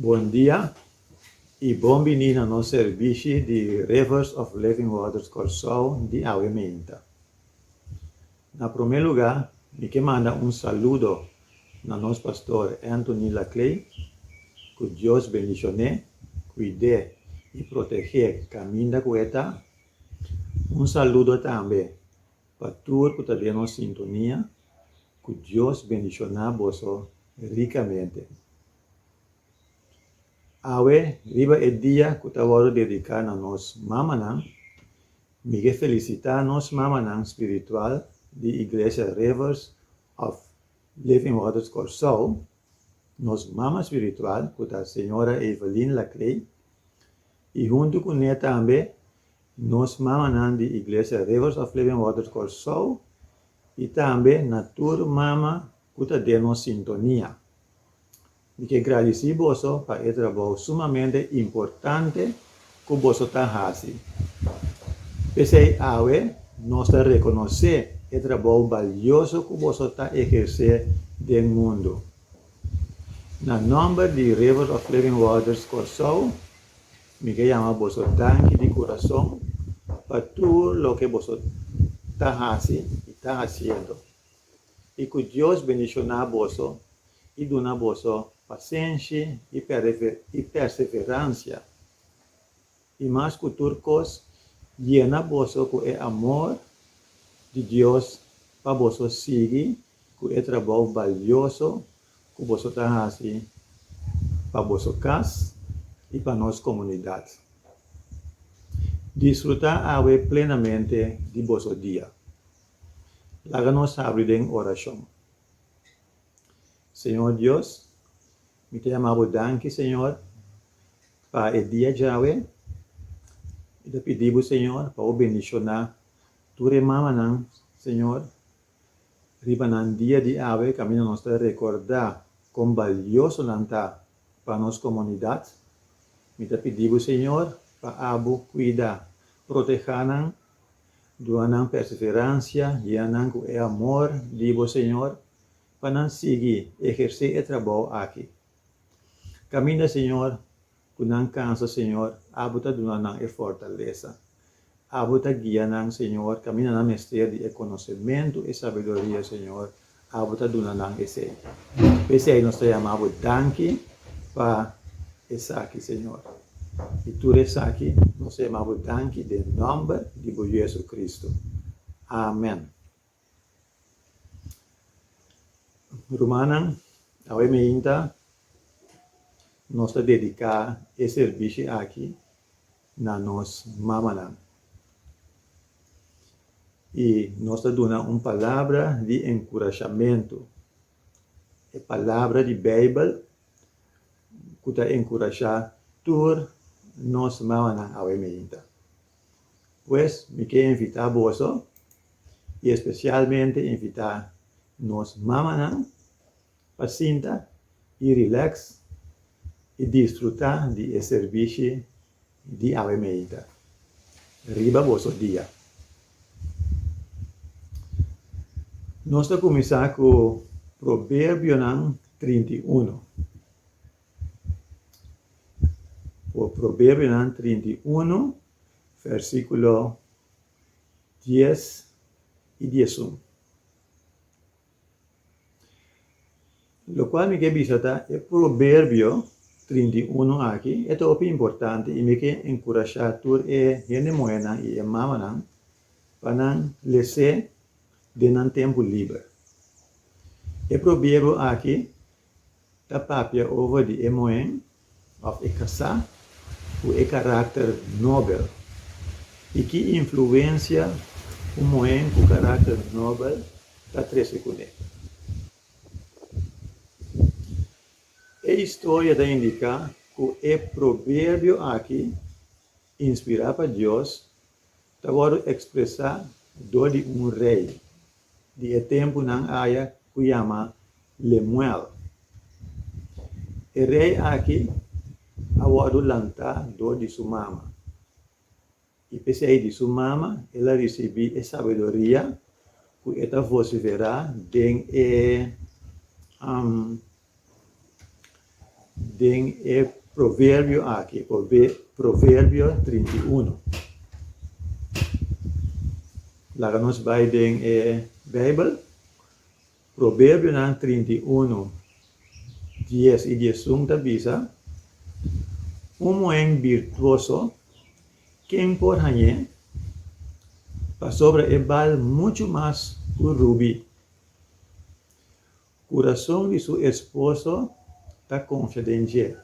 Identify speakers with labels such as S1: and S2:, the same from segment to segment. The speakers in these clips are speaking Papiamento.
S1: Bon dia y bon bini na nos servishi di Rivers of Living Waters Kòrsou di Awe Menta. Na prome luga mi ke manda un saludo na nos pastor Anthony Laclay, ku Dios bendishoné, kuid'é i protegé kaminda ku e ta. Un saludo tambe pa tur ku ta den nos sintonia, ku Dios bendishoná boso rikamente. Awe riba e dia ku ta wòrdu dediká na nos mamanan, Mi ke felisitá nos mamanan spiritual di Iglesia Rivers of Living Waters Kòrsou, nos mama spiritual ku ta Señora Evelyn Laclay, i huntu ku ne tambe nos mamanan di Iglesia Rivers of Living Waters Kòrsou i tambe na tur mama ku ta den nos sintonia. Mi ke gradisí boso pa e trabou sumamente importante ku boso ta hasi. P'esei awe nos ta rekonosé e trabou balioso ku boso ta ehersé den mundu. Na nòmber di Rivers of Living Waters Kòrsou, mi ke yama boso danki di kurason pa tur loke boso ta hasi i ta hasiendo. i ku Dios bendishoná boso i duna boso pasenshi i perseveransia, i mas ku tur kos yena boso ku e amor di Dios pa boso sigui ku e trabou balioso ku boso ta hasi pa boso kas i pa nos komunidat. Disfrutá awe plenamente di boso dia. Laga nos habri den orashon. Señor Dios, mi ta yama Bo danki, Señor, pa e dia djawe. Mi ta pidi Bo, Señor, pa Bo bendishoná tur e mamanan, Señor, riba nan dia di awe, kaminda nos ta rekordá kon balioso nan ta pa nos komunidat. Mi ta pidi Bo, Señor, pa Abo kuida, protehá nan Duna nan perseverancia, yena nan cu e amor di bo Señor, pa nan sigui eherce e trabao aki. Caminda Señor, cu nan cansa Señor, Abo ta duna nan e fortaleza. Abo ta guia nan Señor, caminda nan mester di e conocemento, e sabiduria Señor, Abo ta duna nan esei. P'esei nos ta yama Abo danki pa esaki, Señor. I tur esaki nos ta yama Abo danki den nòmber di Bo Yu Jesucristo. Amen. Rumannan, awe meinta nos ta dediká e sirbishi aki na nos mamanan i nos ta duna un palabra di enkurashamentu, e palabra di Beibel ku ta enkurashá tur nos mamanan awe mainta. Pues mi ke invitá boso i espesialmente invitá nos mamanan Pa sinta i relax i disfruta di e servishi di Ave Meita riba boso dia. Nos ta kuminsá ku Proverbionan trinta i unu. Proverbionan trinta i unu versíkulo dies i diesun. Lokual mi ke bisa ta e Proberbio trinta i unu aki e ta hopi importante i mi ke enkurashá tur e hende muhénan i e mamanan pa nan les'é den nan tempu liber. E proberbio aki Ta papia over di e muhé of e kasá ku e karakter nobel i ki influensia un muhé ku karakter nobel ta trese kuné. E historia ta indiká ku e proberbio aki. Inspirá pa Dios ta wòrdu ekspresá dor di un rei di e tempunan aya ku yama Lemuel. E rei aki a wòrdu lantá dor di su mama, i p'esei di su mama el a risibí e sabiduria ku e ta vosiferá den e den e proverbio aki, proverbio trinta i uno. Laga nos bai den e Bijbel, proverbionan trinta i uno, dies i diesun ta bisa, un muhen birtuoso, ken por hañ'é? Pasobra e bal muchu mas ku rubi. Kurason di su esposo ta konfia den dje,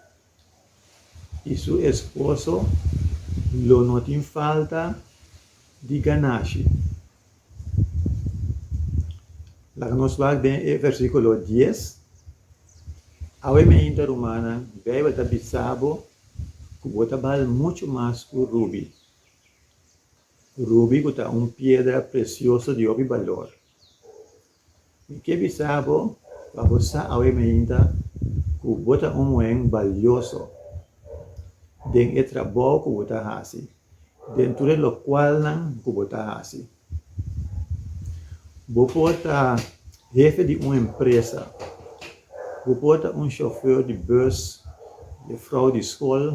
S1: i su esposo lo no tin falta di ganashi. Laga nos wak den e versíkulo dies, Awe mainta rumannan, Beibel ta bisa bo ku bo ta bal muchu mas ku rubi, rubi ku ta un piedra presioso di hopi balor. Mi ke bisa bo pa bo sa awe mainta ku bo ta un muhen balioso den e trabou ku bo ta hasi, den tur e lokualnan ku bo ta hasi. Bo por ta hefe di un empresa, bo por ta un shofeur di bus, jefrou di skol,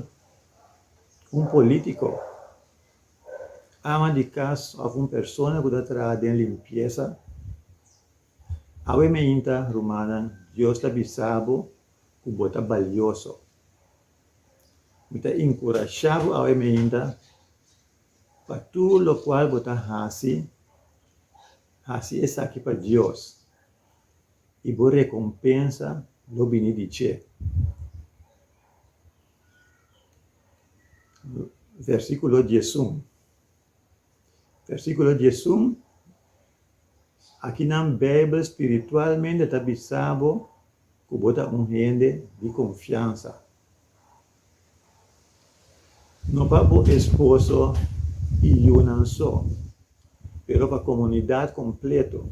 S1: un politiko, ama di kas òf un persona ku ta traha den limpiesa, Awe meinta, rumannan, Dios ta bisa bo ku bo ta balioso. Mi ta inkurashá bo awe meinta pa tur lokual bo ta hasi, hasi esaki pa Dios i bo rekompensa lo bini di dje. Versíkulo diesun, versíkulo diesun, Aki nan Beibel spiritualmente ta bisa bo ku bo ta un hende di konfiansa. No pa bo esposo i yunan so, pero pa komunidat kompleto.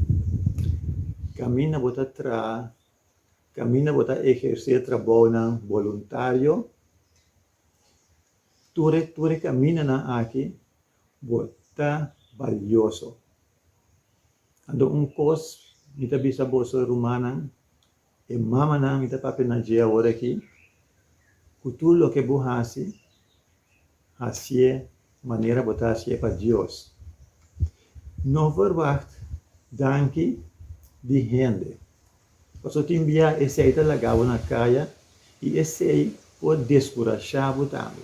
S1: Kaminda bo ta traha. Kaminda bo ta ehersé trabaonan boluntario, tur e tur e kamindanan akí bo ta balioso. Anto un kos mi ta bisa boso rumannan, e mamanan mi ta papia na dje awor akí, ku tur loke bo hasi, hasié manera bo ta hasié pa Dios. No verwagt danki di hende. Pasobra tin bia esei ta laga bo na kaya i esei por deskurashá bo tambe.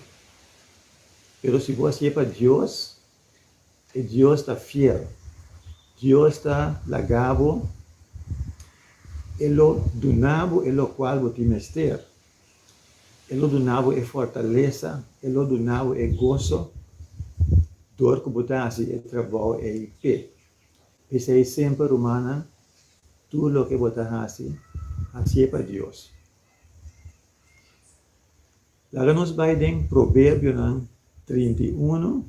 S1: Pero si bo hasié pa Dios, e Dios ta fiel. Dios ta laga bo, e lo duna bo e lokual bo tin mester. E lo duna bo e fortalesa, e lo duna bo e goso dor ku bo ta hasi e trabou ei p'e. P'esei semper, rumannan, tur loke bo ta hasi, hasié pa Dios. Laga nos bai den Proverbionan trinta i unu.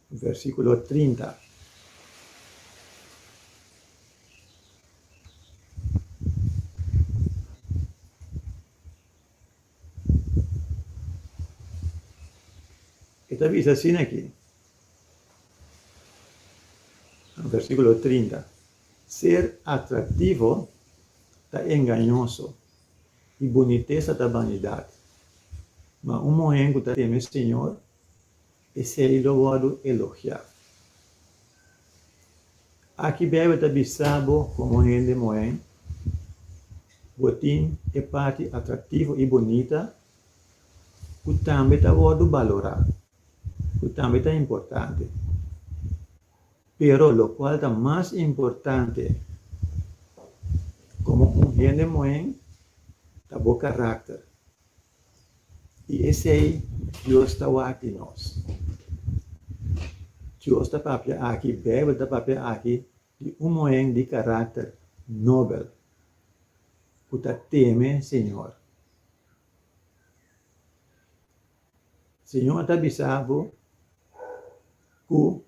S1: Versikulo trinta, e ta bisa asina aki, versikulo trinta, Ser atraktivo ta engañoso, i bunitesa ta banidat. Ma un muhé ku ta teme señor, Esei lo wòrdu elogiá. Aki bèbè ta bisa bo komo hende moen bo tin e parti atraktivo i bonita ku tambe ta wòrdu balorá, ku tambe ta importante. Pero lokual ta mas importante komo un hende moen ta bo karakter. I esei Dios ta wak-i nos. Dios ta papia aki, Beibel ta papia aki di un muhen di karakter nobel ku ta teme Señor. Señor ta bisa bo ku.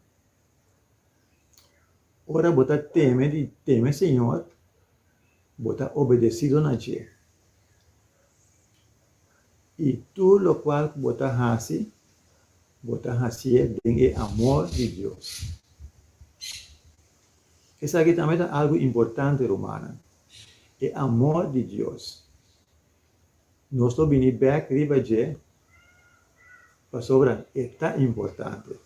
S1: Ora bo ta teme di teme Señor, bo ta obedecido na dje, i tur locual cu bo ta haci, bo ta hacié den e amor di Dios. Esaki tambe ta algu importante, rumannan. E amor di Dios. Nos lo bini bek riba dje pasobra e ta importante.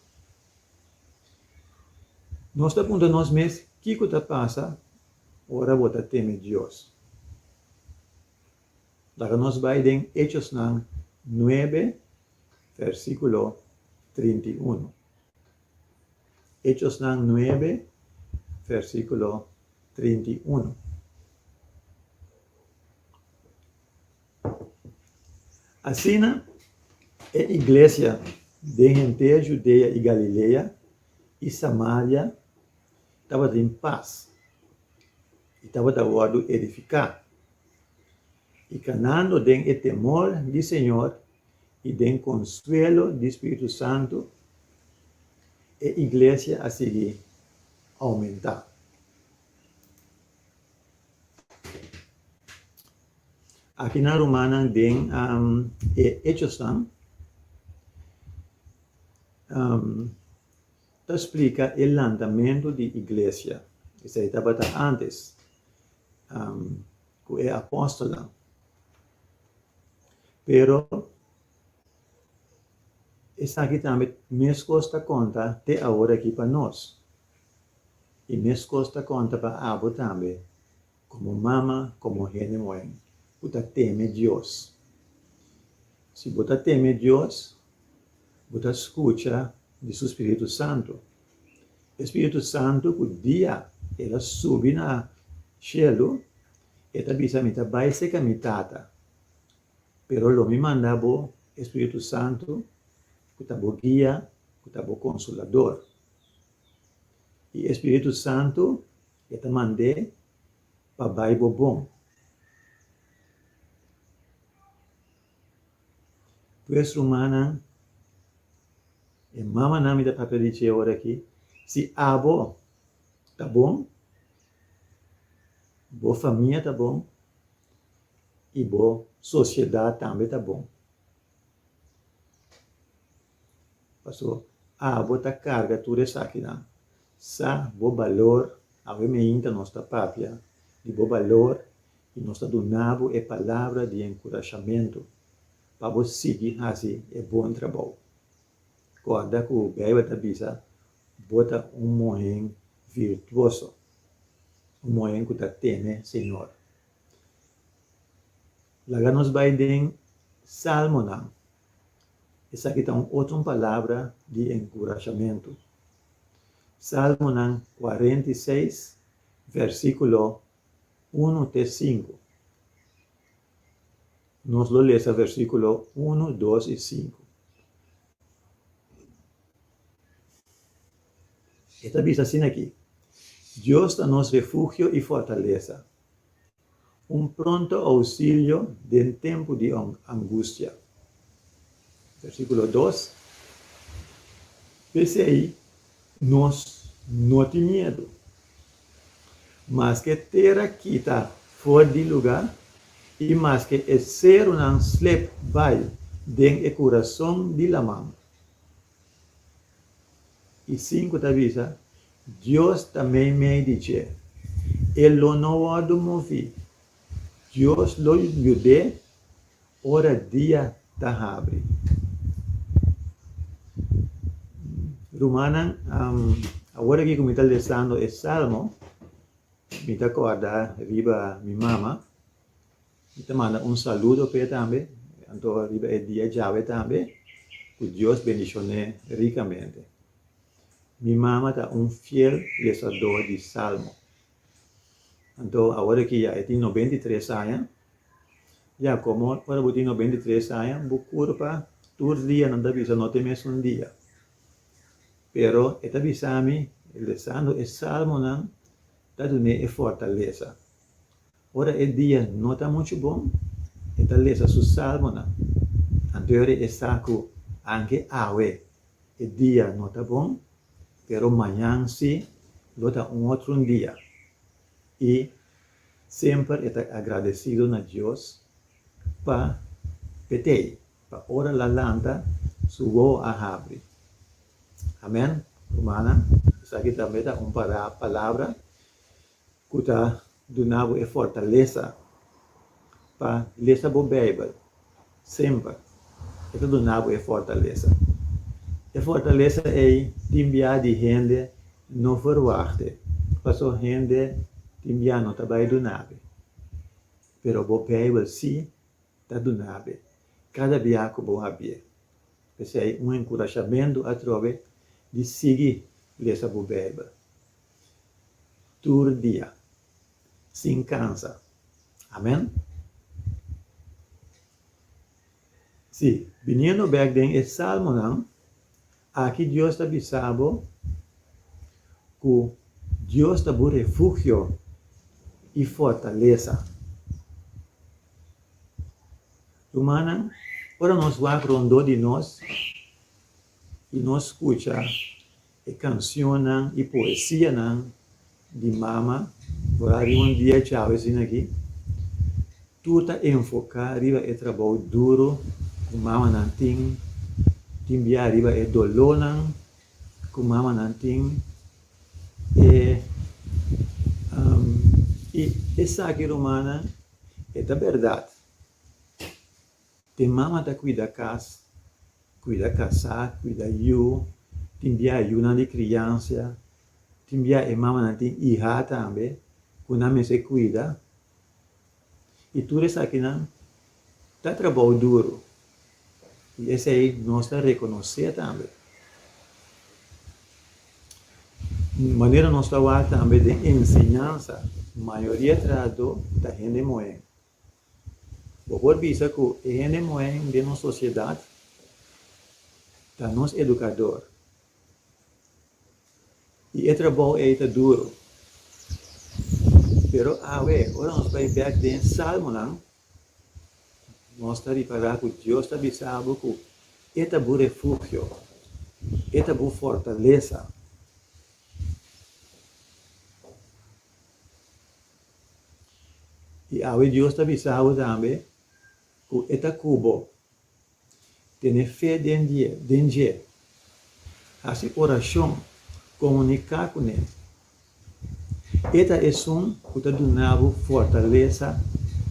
S1: Nos ta puntra nos mes, Kiko ta pasa ora bo ta teme Dios? Laga nos bai den Hechosnan nuebe, versíkulo trinta i unu. Hechosnan nuebe versíkulo trinta i unu. Asina e iglesia den hentea Judea i Galilea i Samaria tabata tin pas i tabata wòrdu edifiká, i kanando den e temor di señor i den konsuelo di spiritu santu e iglesia a sigui oumentá. Aki nan rumannan den e Hechosnan ta splika e lantamentu di iglesia, esei tabata ántes ku e apòstelnan. Pero esaki tambe meskos ta konta te awor aki pa nos. I meskos ta konta pa abo tambe, komo mama, komo hende moe, ku ta teme Dios. Si bo ta teme Dios, bo ta skucha di su Spiritu Santu. E Spiritu Santu ku dia el a subi na shelu. E ta bisa, Mi ta bai cerca mi Tata, pero lo mi manda bo e Spiritu Santu cu ta bo guia, cu ta bo Consolador. Y e Spiritu Santu e ta mand'é pa bai bo bon. Pues, rumannan y mamanan, mi ta papia di dje ora aki, si abo, ta bon, bo famia ta bon y bo sociedad tambe ta bon. Pasobra abo ta carga tur esakinan. Sa bo balor, awe mainta nos ta papia di bo balor y nos ta duna bo e palabra di encuras-hamento pa bo sigui haci e bon trabao. Corda cu Bijbel ta bisa, Bo ta un muhen virtuoso, un muhen ku ta teme Señor. Laga nos bai den Salmonan. Esaki ta un otro un palabra di enkurashamentu. Salmonan kuarenta i seis, vèrsikulo unu te sinku. Nos lo lesa vèrsikulo unu, dos i sinku. E ta bisa asina aki, Dios ta nos refugio i fortalesa, un pronto ousilio den tempu di angustia. Versíkulo dos, P'esei nos no tin miedu, maske tera kita for di lugá i maske e serunan slep bai den e kurason di laman. I sinku ta bisa, Dios ta mei mei di dje. E lo no wòrdu moví. Dios lo yud'é ora dia ta habri. Rumannan, awor aki ku mi ta lesando e Salmo, mi ta kòrda riba mi mama. Mi ta manda un saludo p'e tambe, anto riba e dia djawe tambe, ku Dios bendishon'é rikamente. Mi mama ta un fiel lesadó di Salmo, anto awor aki ya e tin nobenta i tres aña, ya komo ora bo tin nobenta i tres aña bo kur pa tur dia, nan ta bisa no te mes un dia, pero e ta bisa mi lesando e Salmonan ta dun'é e fortalesa. Ora e dia no ta muchu bon, e ta lesa su salmonan. Anto ora e sa ku anke awe e dia no ta bon, pero mañan si lo ta un otro un dia. I semper e ta agradesido na Dios pa petei, pa ora la lanta su wou a habri. Amen, rumannan. Esaki tambe ta un palabra. ku ta duna bo e fortalesa pa lesa bo Beibel semper, e ta duna bo e fortalesa. E fortalesa ei tin biaha di hende no verwahte, paso hende tin biaha no ta bai duna be, pero bo Beibel si ta duna be kada biaha ku bo habi'e. P'esei un enkurashamentu atrobe di sigui lesa bo Beibel. tur dia sin cansa. Amen. Sí, biniendo bek den e salmonan, aki Dios ta bisa bo cu Dios ta bo refugio y fortalesa. Rumannan, ora nos wak rondó di nos y nos scucha. E cancionnan y poesianan di Mama Borá riba un dia echao asina aki, tur ta enfoca riba e trabao duro cu mamanan tin, tin bia riba e dolónan cu mamanan tin, e y esaki, Romana, e ta berdad. Tin mama ta cuida cas, cuida casá, cuida yu, tin bia yunan di criancia, tin bia e mamanan tin iha tambe cu nan mester cuida. Y tur esakinan ta trabou duro y esey nos ta reconoce tambe. Manera nos ta wak tambe den enseñansa, mayoria trahadó ta hende mohen Bo por bisa cu e hende mohen den nos sociedad ta nos educador. Y e trabou ey ta duro. Pero awe, ora nos bay bek den e Salmonan, nos ta ripara cu Dios ta bisa bo cu e ta bo refugio, e ta bo fortalesa. I awe Dios ta bisa bo tambe ku e ta ku bo. Tene fe den die, den dje. Hasi orashon, komuniká ku ne. E ta Esun ku ta duna bo fortalesa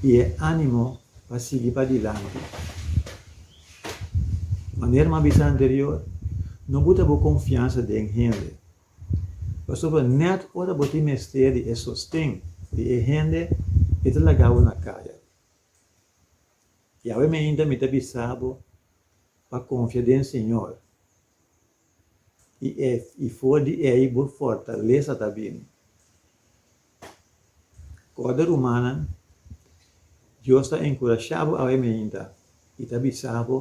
S1: i e ánimo pa sigui padilanti. Manera mi a bisa anterior, no buta bo konfiansa den hende. Pasobra nèt ora bo tin mester di e sosten di e hende e ta laga bo na kaya. Yahweh mi ainda mi ta bisa bo pa konfia den Señor i e i for di ei bo fortalesa ta bini. Kòrda, rumannan, Dios ta enkurashá bo awe mainta i ta bisa bo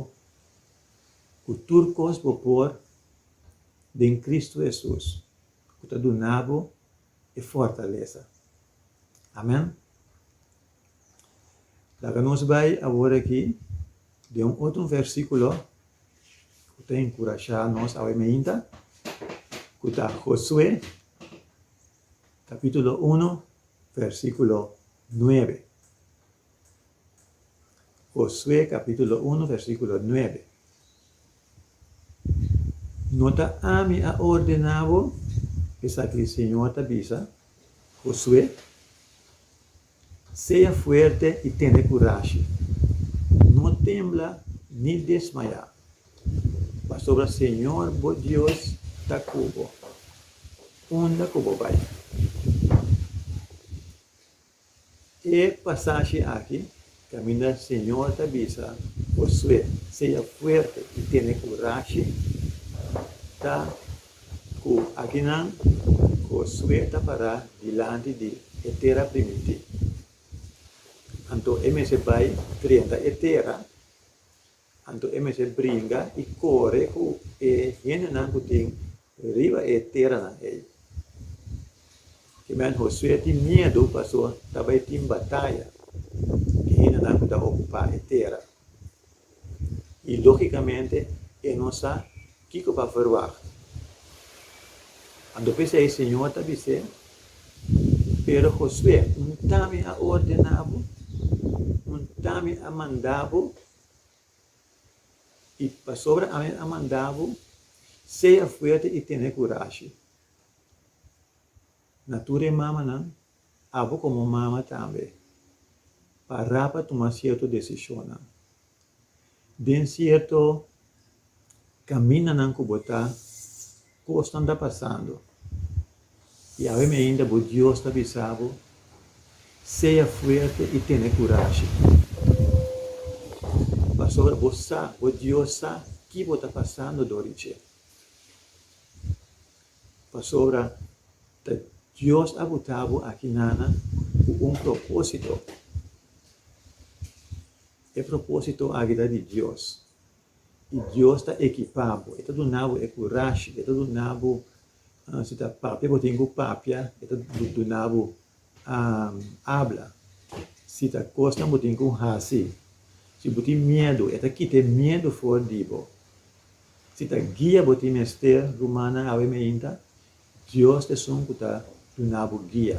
S1: ku tur kos bo por den Kristu Hesus ku ta duna bo e fortalesa. Amèn. Laga nos bai awor aki den un otro versíkulo ku ta enkurashá nos awe mainta, ku ta Josué. capítulo uno, versículo nuebe. Josué, capítulo uno, versículo nuebe. No ta ami a ordená bo? Esaki Señor ta bisa Josué. Sea fuerte i tene kurashi. No tembla ni desmaya, pasobra Señor bo Dios ta ku bo unda ku bo bai. E pasashi aki Camina Señor ta bisa Josué, Sea fuerte y tene curashi. Ta cu aginan Josué ta para dilanti di e tera primiti. Anto e mester bay trenta e tera. Anto e mester bringa i kore ku e hendenan ku tin riba e teranan ei. Kiman Hosue tin miedu pasó ta bai tin bataya ku e hendenan ku ta okupá e tera, i lógikamente e no sa kiko pa verwagt. Anto p'esei Señor ta bis'é, Pero Hosue, N ta mi a ordená bo, N ta mi a mandá bo I pasobra ami a manda bo, sea fuerte i tene kurashi na tur e mamanan, abo komo mama tambe, pa rapa tuma sierto desishonnan. Den sierto kamindanan ku bo ta. Kosnan ta pasando, i awemi ainda bo Dios ta bisa bo, Sea fuerte i tene kurashi, pasobra bo sa, bo Dios sa ki bo ta pasando dor di dje. Pasobra ta Dios a buta bo aki nana ku un propósito. E propósito aki ta di Dios. I Dios ta ekipá bo, e ta duna bo e kurashi, e ta duna bo, si ta papia bo tin ku papia, e ta duna bo abla, si ta kosnan bo tin ku hasi, si bo tin miedu, e ta kita e miedu for di bo, si ta guia bo tin mester, rumannan awe meinta, Dios ta esun ku ta duna bo guia.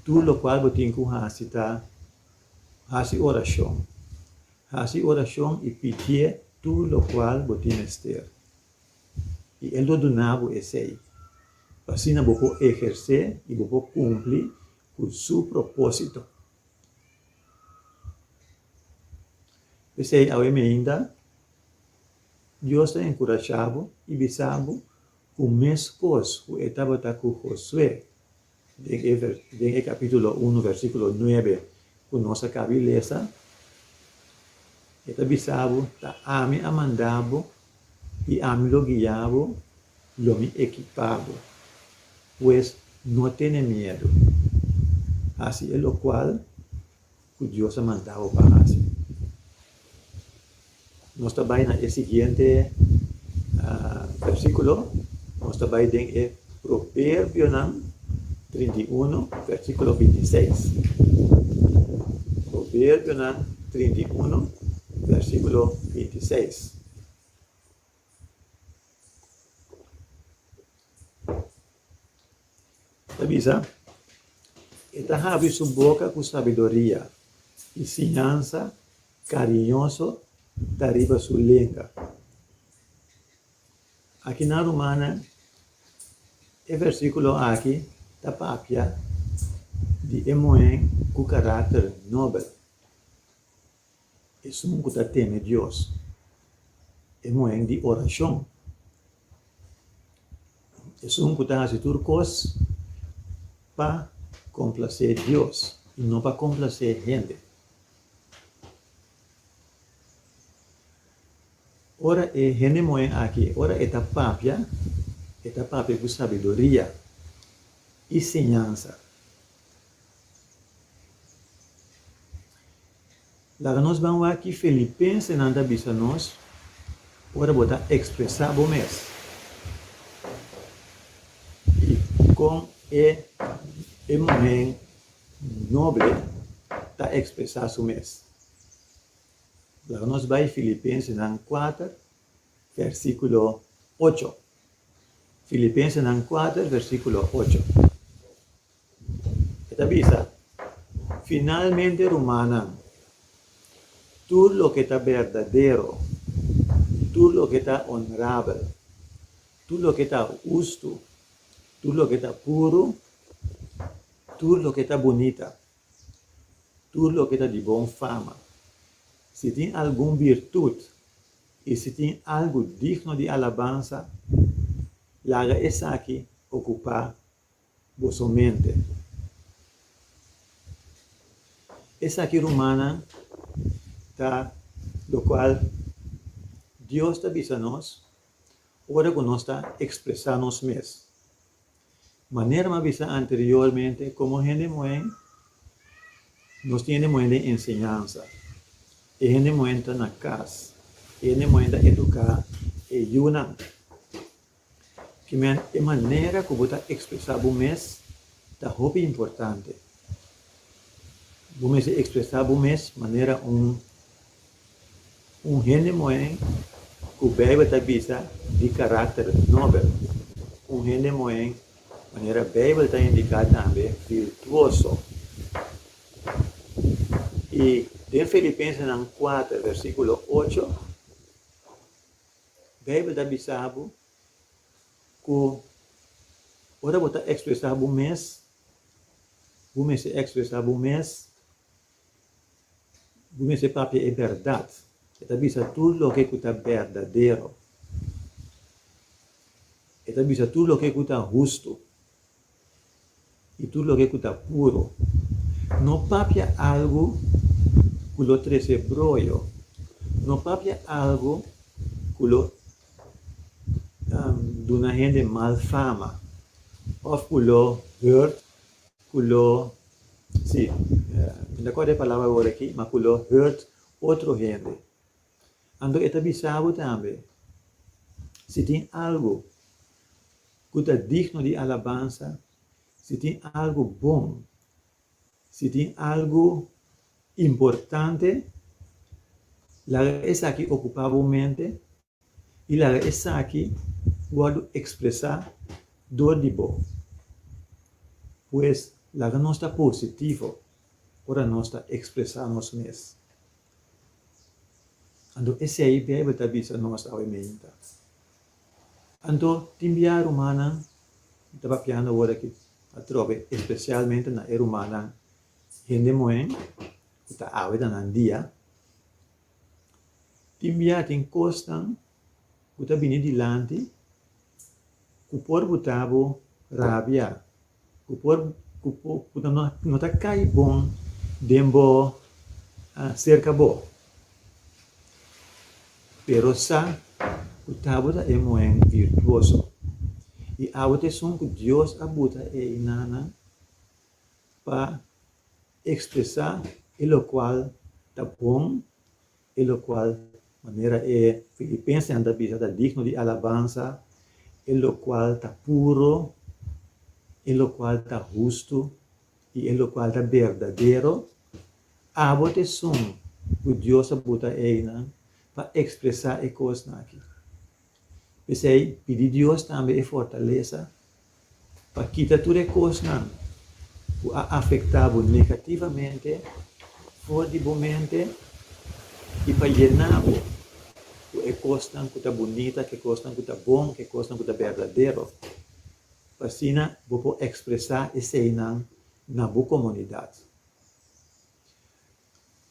S1: Tur lokual bo tin ku hasi ta hasi orashon. Hasi orashon i pidié tur lokual bo tin mester, i el lo duna bo esei, pa asina bo por ehersé i bo por kumpli ku su propósito. P'esei, awe meinda, Dios ta enkurashá bo i bisa bo ku meskos ku e tabata ku Josué. Den e capítulo uno versículo nuebe cu nos a cabi lesa, e ta bisa bo, Ta Ami a manda bo i Ami lo guia bo, lo Mi ekipa bo. Pues, no tene miedu. Hasi elocual. ku Dios a manda bo pa hasi. Nos ta bai na e siguiente versikulo, nos ta bai den e Proverbionan trinta i unu, versikulo binti i seis. Proverbionan trinta i unu, versikulo binti i seis. Ta bisa, E ta habri su boka ku sabiduria, i siñansa kariñoso ta riba su lenga. Aki na Rumannan, e versíkulo aki ta papia di e muhé ku karakter nobel. Esun ku ta teme Dios, e muhen di orashon. Esun ku ta hasi tur kos pa komplasé Dios i no pa komplasé hende. Ora e hende muhen aki, ora e ta papia, e ta papia ku sabiduria i siñansa. Laga nos ban wak ki filipensenan ta bisa nos ora bo ta ekspresá bo mes i kon e e muhen noble ta ekspresá su mes. Laga nos bai Filipensenan kuater, vèrsikulo ocho. Filipensenan kuater, vèrsikulo ocho. E ta bisa, Finalmente rumannan, tur loke ta berdadero, tur loke ta onrabel, tur loke ta hustu, tur loke ta puru, tur loke ta bunita, tur loke ta di bon fama, si tin algun birtut i si tin algu digno di alabansa, laga esaki okupá boso mente. Esaki rumannan ta lokual Dios ta bisa nos ora ku nos ta ekspresá nos mes. Manera mi a bisa anteriormente, komo hende muhen, nos tin hende muhen den enseñansa. E hende muhen ta na kas, e hende muhen ta eduká e yunan. Kimen, e manera ku bo ta ekspresá bo mes ta hopi importante. Bo mester ekspresá bo mes manera un un hende muhé ku Beibel ta bisa di karakter nobel, un hende muhé manera Beibel ta indiká tambe virtuoso. I den Filipensenan kuater, vèrsikulo ocho. Bijbel ta bisa bo ku ora bo ta ekspresá bo mes, bo mester ekspresá bo mes, bo mester papia e bèrdat. E ta bisa tur loke ku ta berdadero. E ta bisa tur loke ku ta hustu. I tur loke ku ta puro. No papia algu ku lo trese broyo. No papia algu ku lo duna hende mal fama òf ku lo hurt, ku lo, sí, mi no ta akorda e palabra awor aki, ma ku lo hurt otro hende. Anto e ta bisa bo tambe, si tin algu ku ta digno di alabansa, si tin algu bon, si tin algu importante, laga esaki okupá bo mente i laga esaki wòrdu ekspresá dor di bo. Pues, laga nos ta positivo ora nos ta ekspresá nos mes. Anto esei Beibel ta bisa nos awe meinta. Anto tin bia rumannan mi ta papiando ora aki atrobe, espesialmente na e rumannan hende mohen ku ta awe ta nan dia. Tin bia tin kosnan ku ta bini dilanti ku por botabo rabia. ku por ku ku ta no no ta kai bon den bo serka bo pero sa ku tabu ta e muhen virtuoso i awe ta esun ku Dios a buta e inanan pa ekspresa e lokual ta bon. e locual manera e Filipensenan ta bisa ta digno di alabansa, e locual ta puro, e locual ta hustu y e locual ta berdadero, abo ta esun cu Dios a buta einan pa expresa e cosnan aki. P'esey, pidi Dios tambe e fortalesa Pa kita tur e kosnan ku a afektá bo negativamente for di bo mente i pa yená bo ku e kosnan ku ta bunita, ku e kosnan ku ta bon, ku e kosnan ku ta berdadero, pa asina bo por ekspresá eseinan na bo komunidat.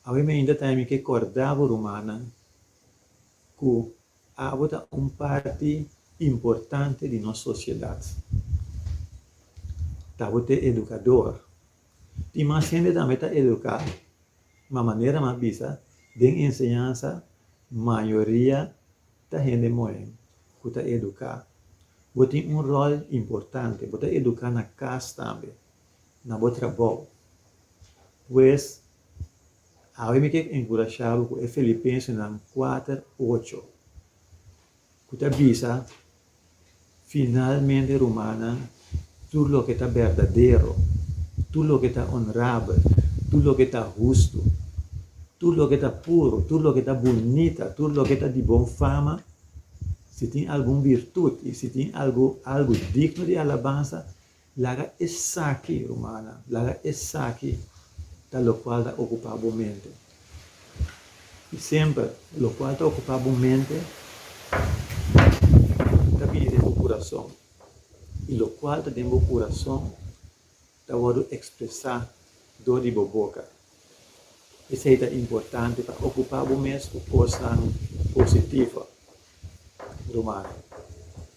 S1: Awe mi ainda ta ami ke korda bo rumannan ku abo ta un parti importante di nos sosiedat. Ta bo te edukador. Tin mas hende tambe ta eduká, ma manera mi a bisa den enseñansa mayoria ta hende moe ku ta eduká. Bo tin un ròl importante, bo ta eduká na kas tambe. na bo trabou. Pues, awe mi ke enkurashá bo ku e Filipensenan kuater ocho, ku ta bisa, Finalmente, rumannan, tur loke ta berdadero, tur loke ta onrabel, tur loke ta hustu, tur loke ta puru, tur loke ta bunita, tur loke ta di bon fama, si tin algun birtut i si tin algu algu digno di alabansa, Laga esaki, rumannan, laga esaki ta lokual ta okupá bo mente. I semper, lokual ta okupá bo mente ta bini den bo kurason. I lokual ta den bo kurason ta wòrdu ekspresá dor di bo boka. P'esei ta importante pa okupá bo mes ku kosnan positivo, rumannan.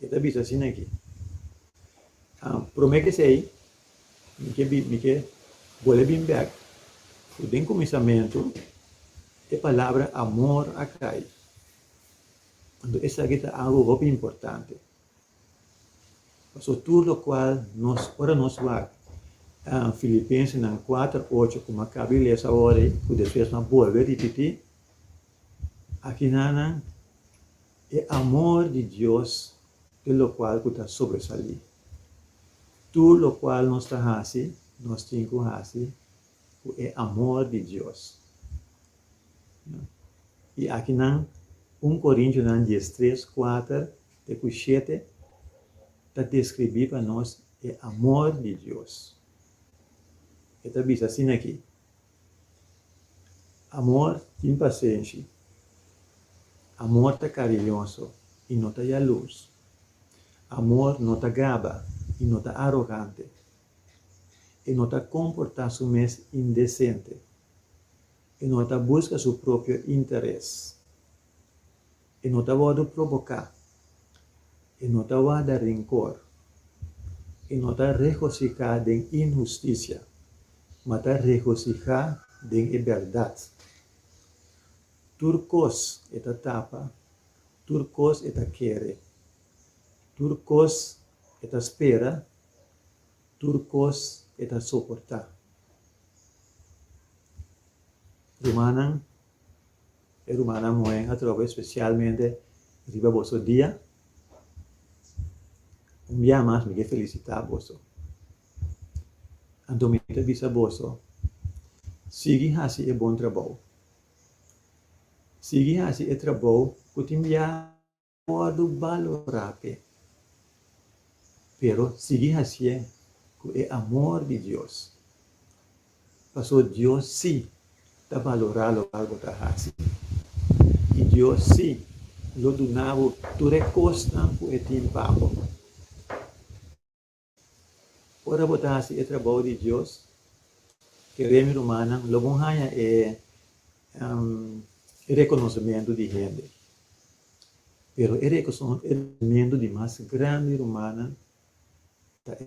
S1: E ta bisa asina aki, Promé ke esei, mi ke bin, mi ke bolbe bin bèk ku den kuminsamentu e palabra amor a kai. Anto esaki ta algu hopi importante. Pasobra tur lokual nos, ora nos wak Filipensenan kuater ocho, ku mi a kaba di lesa awor ei, ku despues mi a bolbe a ripití, aki nan nan e amor di Dios te lokual ku ta sobresalí. Tur lokual nos ta hasi, nos tin ku hasi ku e amor di Dios. I akinan un Korintiunan dies tres, kuater te ku shete ta deskribí pa nos e amor di Dios. E ta bisa asin aki, Amor tin pasenshi. Amor ta kariñoso i no ta yalurs. Amor no ta gaba i no ta arogante. E no ta komportá su mes indesente. E no ta buska su propio interes. E no ta wòrdu proboká. E no ta warda renkor. E no ta regosiká den inhustisia, ma ta regosihá den e bèrdat. Tur kos e ta tapa, tur kos e ta kere, tur kos e ta spera, tur kos e ta soportá. Rumannan. E rumannan moe atrobe spesialmente riba boso dia. Un bia mas mi ke felisitá boso. Anto mi ta bisa boso, sigui hasi e bon trabou. Sigui hasi e trabou ku tin bia. Wòrdu balorá p'e. Pero sigui hasié ku e amor di Dios, paso Dios sí ta balorá loke bo ta hasi i Dios sí lo duna bo tur e kosnan ku e tin pa bo. Ora bo ta hasi e trabou di Dios, keré mi rumannan, lo bon haña e rekonosementu di hende. Pero e rekonosementu di mas grandi rumannan ta e.